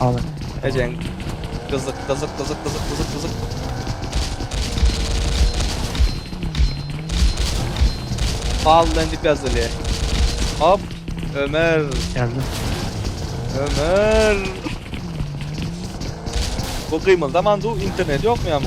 Al. Ejen. Gyzyk gyzyk gyzyk gyzyk gyzyk gyzyk. Fallen dip yazılı. Hop. Ömer. Geldim. Ömer. Bu kıymılda mandu internet yok mu ya mı?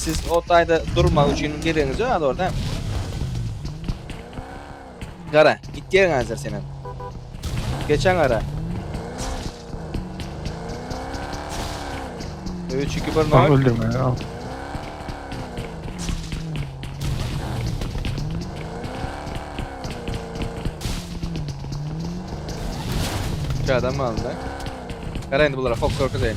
Siz o taýda durmak üçin geregiňiz ýok az orada. Gara, git ýeriň hazır sen hem. Geçen gara. 3 2 1 0. Öldürme ya. Adam aldı. Gara indi bulara fok korku deyin.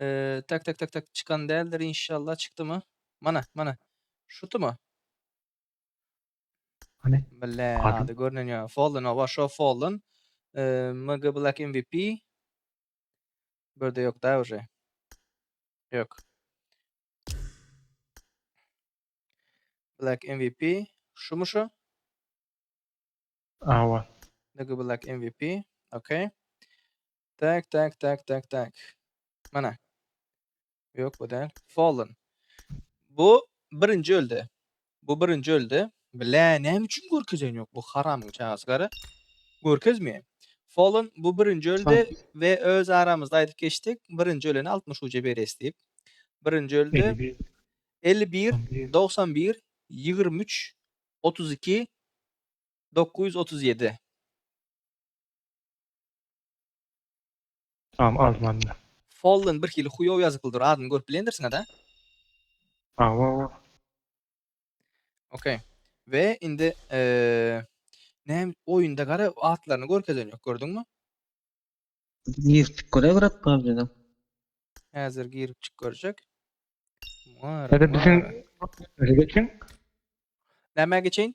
Ee, tak tak tak tak çykan däldir inşallah çykdymy? Mana, mana. Şutumy? Hany? Bile, Adam. ady görnen ýa. Fallen, awa şo Fallen. Ee, MG Black MVP. Berde ýok da уже. Ýok. Black MVP. Şumy şu? Awa. MG Black MVP. Okey. Tak, tak, tak, tak, tak. Mana. Yok bu däl. Fallen. Bu birinji öldi. Bu birinji öldi. Bile näme üçin görkezen yok bu haramyň çagasy gara. Görkezmeýär. Fallen bu birinji öldi ve öz aramyzda aýdyp geçdik. Birinji ölene 60 uca beres diýip. Birinji öldi. 51 91 23 32 937. Tamam almandy. Fallen birhili huýow ýazyply dur adyny görüp bilendirsiňada. Hawa. Okey. We indi näm oýunda gara atlaryny görkezen ýok gördüňmi? Girip görerek pubgda. Häzir girip çyk görjek. Muňa Hadi biziň geçiň. Nämä geçeýin?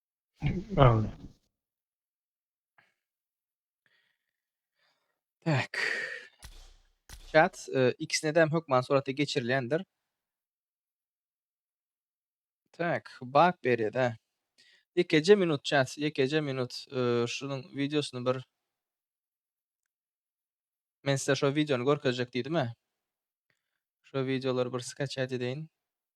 Amin. Tak. Chat e, ikisine de hökman surata geçirilendir. Tak, bak berede. Yekeje minut chat, yekeje minut. E, şunuň videosyny bir Men size şu videony görkezjek diýdim-ä. Şu videolary bir skaçat edeýin.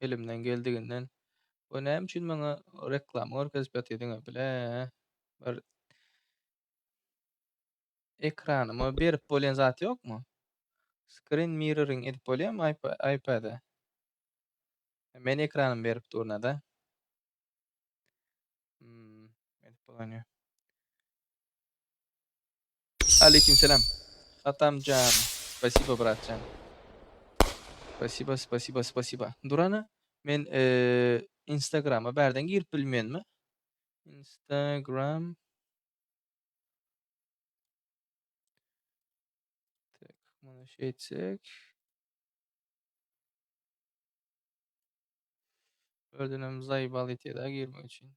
elimden geldiginden we näme üçin maňa reklama görkezip ýatydyňa bile bir ekranyma berip bolýan zat ýokmy? Screen mirroring edip bolýarmy iPad-e? Men ekranymy berip durna-da. Hmm, edip bolanýa. Aleýkim selam. Atamjan. Spasiba bratjan. Spasiba, spasiba, spasiba. Durana men eee Instagrama bärden girip bilmenmi? Instagram. Tak, mana şeýtsek. Özünem zaýbal etýär-de girmek üçin.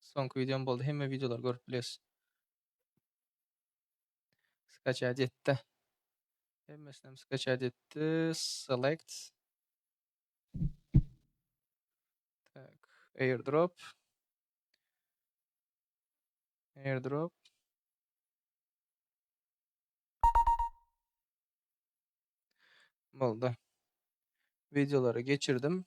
Soňky videom boldy. Hemme videolary görüp biles. Skaçat etdi. Hemmesini hem skaçat etdi. Select. Tak. Airdrop. Airdrop. Boldy. Videoları geçirdim.